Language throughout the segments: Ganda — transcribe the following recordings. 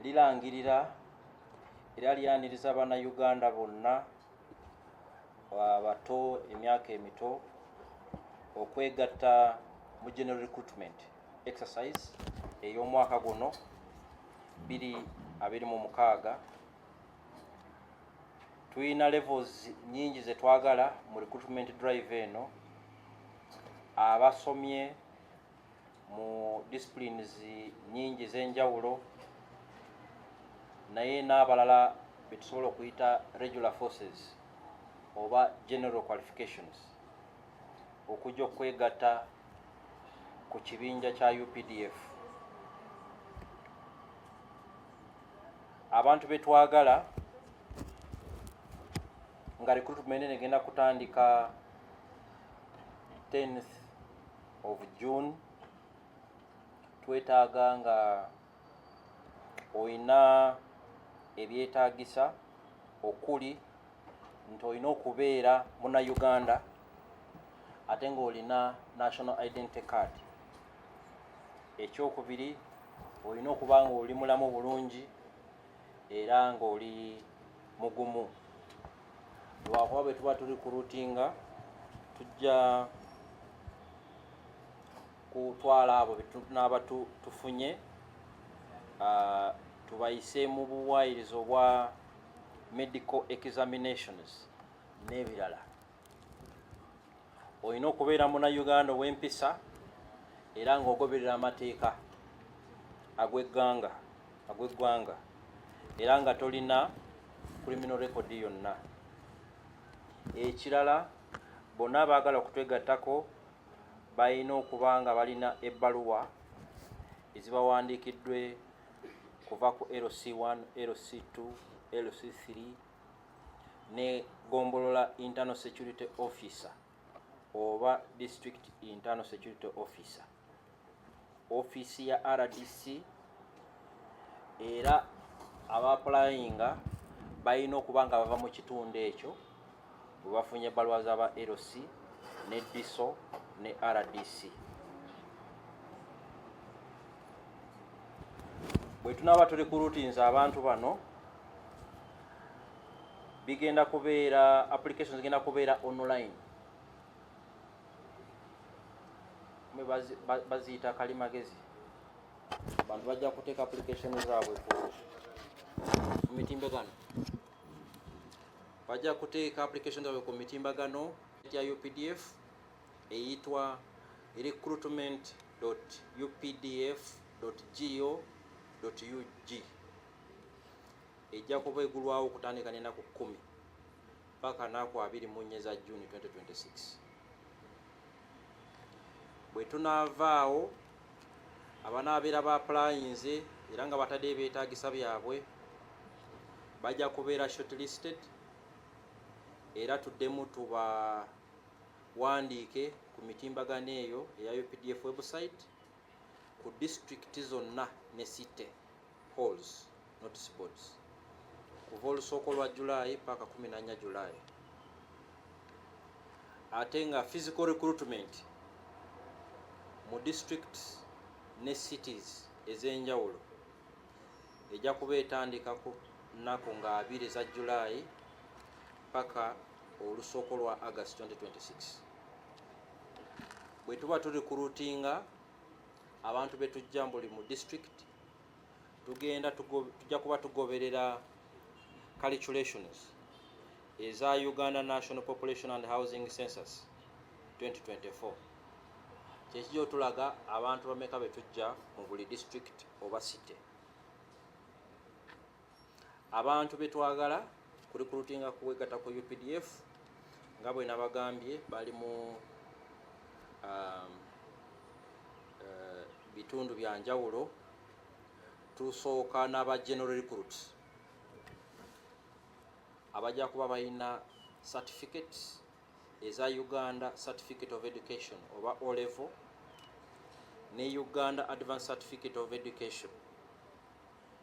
lirangirira era lyaniriza bannayuganda bonna abato emyaka emito okwegatta mu general recruitment exercise ey'omwaka guno biri abiri mu mukaaga tulina levels nyingi zetwagala mu recruitment drive eno abasomye mu disciplines nyingi z'enjawulo naye n'abalala betusobola okuyita regular forces oba general qualifications okujja okwegatta ku kibinja kya updf abantu betwagala nga recruitment egenda kutandika 10th of June twetaaga nga olina ebyetaagisa okuli nti olina okubeera muna Uganda ate ng'olina national identity card ekyokubiri olina okuba nga oli mulamu bulungi era ng'oli mugumu lwakuba bwe tuba tuli ku rutinga tujja kutwala abo betunaaba tufunye ah, tubayise mu buwaayiriza obwa medical examinations n'ebirala olina okubeera muna uganda ow'empisa era ng'ogoberera amateeka agw'egganga agw'eggwanga era nga tolina criminal record yonna ekirala bonna abaagala okutwegattako balina okuba nga balina ebbaluwa ezibawandiikiddwe kuva ku lc1 lc2 lc3 ne gombolola internal security officer oba district internal security officer offiisi ya rdc era abaapulayinga balina okuba nga bava mu kitundu ekyo bwe bafunye ebbaluwa z'aba lc ne diso ne rdc bwe tunaaba tuli ku rutinzi abantu bano bigenda kubeera application zigenda kubeera online me baziyita kali magezi abantu bajja kuteeka application zaabwe ku mitimbagano bajja kuteeka application zaabwe ku mitimbagano ya updf eyitwa recruitment updf go ug ejja kuba egulwawo okutandika n'enaku kkumi paka naku abiri mu nnya eza juni 2026 bwe tunaavaawo abanaabeera ba pulayinze era nga batadde ebyetaagisa byabwe bajja kubeera shortlisted era tuddemu tubawandiike ku mitimbagano eyo eya updf website ku disitulikiti zonna ne site halls notice boards kuva olusooko lwa July paka 14 July ate nga physical recruitment mu districts ne cities ez'enjawulo ejja kuba etandika ku nnaku nga abiri eza July paka olusooko lwa August 2026 bwe tuba tuli kulutinga abantu betujja buli mu district tugenda tujja kuba tugoberera calculations eza uganda national population and housing census 2024 kyekijja otulaga abantu bameka betujja mu buli district oba city abantu betwagala kurikulutinga kuwegata ku updf nga bwe nabagambye bali mu um, uh, bitundu bya njawulo tusooka n'aba general recruit abajja kuba balina certificate eza uganda certificate of education oba olevel ne uganda advanced certificate of education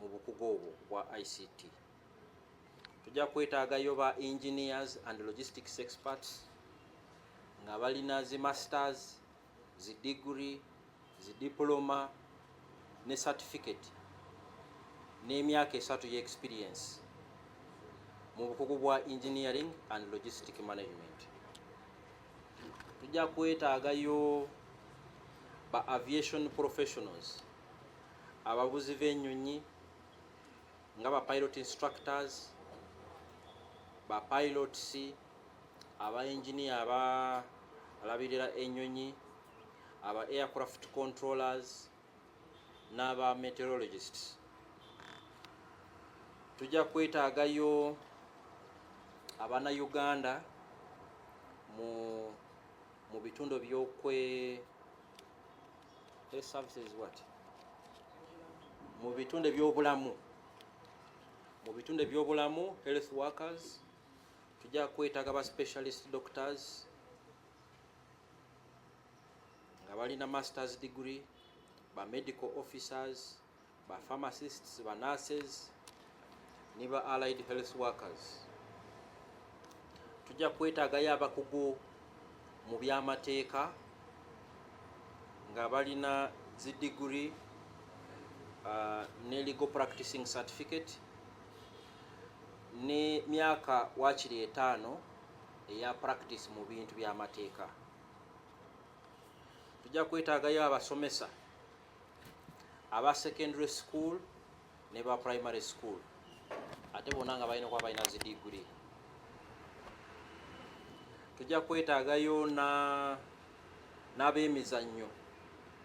mu bukugu obwo bwa ICT. Tujja kwetaagayo ba engineers and logistics experts nga balina zi masters, zi degree, zi diploma ne certificate n'emyaka esatu ye experience mu bukugu bwa engineering and logistic management. Tujja kwetaagayo ba aviation professionals abavuzi b'ennyonyi nga ba pilot instructors ba pilots aba engineer aba alabirira ennyonyi aba aircraft controllers n'aba meteorologists tujja kwetaagayo abana uganda mu mu bitundu byokwe mu bitunde byobulamu mu bitunde byobulamu health workers tujja kwetaga ba specialist doctors nga balina masters degree ba medical officers ba pharmacists ba nurses ne ba allied health workers tujja kwetaagayo abakugu mu byamateeka nga balina zi degree uh, ne legal practicing certificate ne myaka wakiri etaano eya practice mu bintu byamateeka tujja kwetaagayo abasomesa aba secondary school ne ba primary school ate bona nga balina kuba balina zi digiri tujja kwetaagayo n'abemizannyo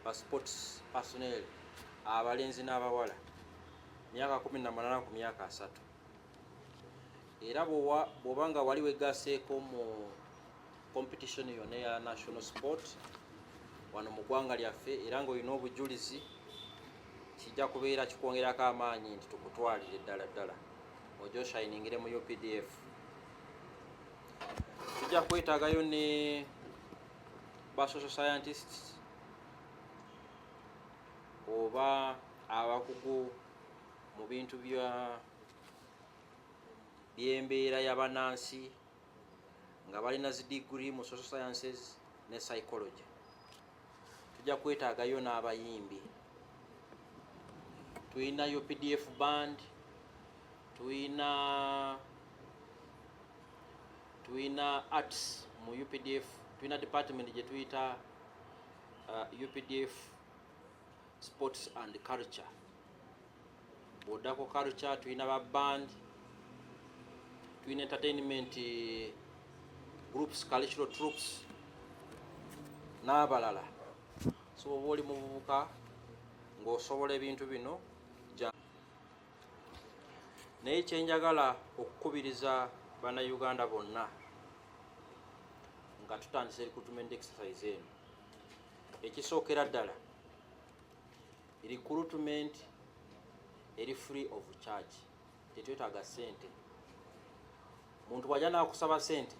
ba sports personel abalenzi n'abawala myaka 18 ku myaka asatu era bwoba nga wali wegaseeko mu Competition yona ya national sport wano mu ggwanga lyaffe era ng'olina obujulizi kijja kubeera kikwongerako amaanyi nti tukutwalire ddala ddala ojo oshiningire mu updf tujja kwetagayo ne ba social scientists oba abakugu mu bintu bya by'embeera y'abanaansi nga balina zi digiri mu social sciences ne psychology tujja kwetaagayo n'abayimbi tulinayo pdf band tulina tulina arts mu updf tulina department gye tuyita uh, updf sports and culture bw'odda ku culture tulina ba band tulina entertainment groups cultural troops n'abalala so oba oli muvubuka ng'osobola ebintu bino naye kyenjagala okukubiriza bannayuganda bonna nga tutandise recruitment exercise eno ekisookera ddala recruitment eri free of charge tetwetaaga sente muntu waja nakusaba sente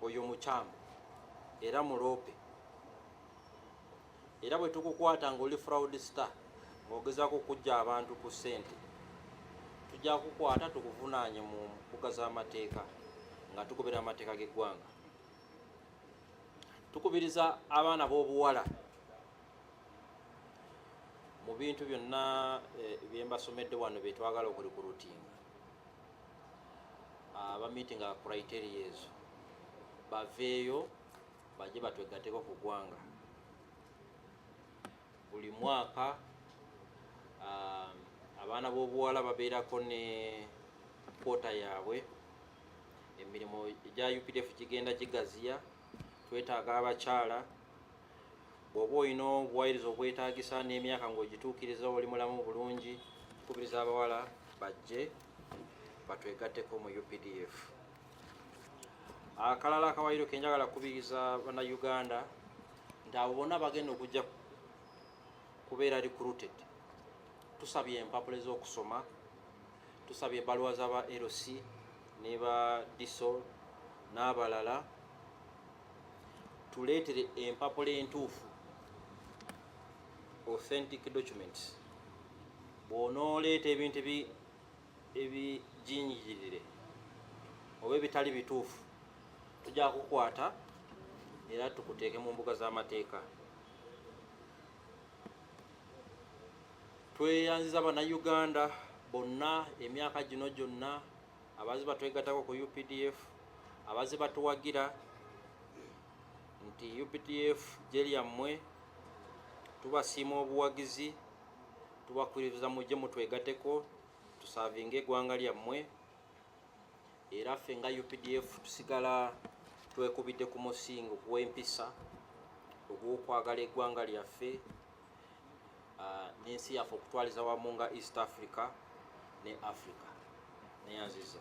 oyo mukyamu era muloope era bwe tukukwata ngaoli fraud star ngaogezako okujja abantu ku sente tujja kukwata tukuvunaanye mu mbuga z'amateeka nga tukubira amateeka g'eggwanga tukubiriza abaana b'obuwala mu bintu byonna eh, byembasomedde wano byetwagala okurikurutinga abamitinga ah, criteria ezo baveeyo baje batwegateko ku gwanga buli mwaka ah, abaana b'obuwala babeerako ne kwota yaabwe emirimu egya updf gigenda gigaziya twetaaga abakyala bw'oba olina obuwairiza obwetaagisa n'emyaka ng'ogituukiriza oli mulamu bulungi kubiriza abawala bajje batwegatteko mu updf akalala akawayiro kenjagala kukubiriza bannayuganda nti abo bonna bagenda okujja kubeera recruited tusabye empapula ez'okusoma Tusabye ebaluwa za ba LC ne ba DISOL n'abalala tuleetere empapula entuufu authentic documents bw'onooleeta ebintu ebijingirire oba ebitali bituufu tujja kukwata era tukuteeke mu mbuga z'amateeka Tweyanziza Bannayuganda bonna emyaka gino gyonna abaze batwegatako ku UPDF abaze batuwagira nti UPDF gye lyammwe tubasiima obuwagizi tubakwiriza mujje mutwegateko tusavinga egwanga lyammwe era ffe nga UPDF tusigala twekubidde ku musingo gw'empisa ogw'okwagala egwanga lyaffe ah, n'ensi yaffe okutwaliza wamu nga east africa ne africa neyanziza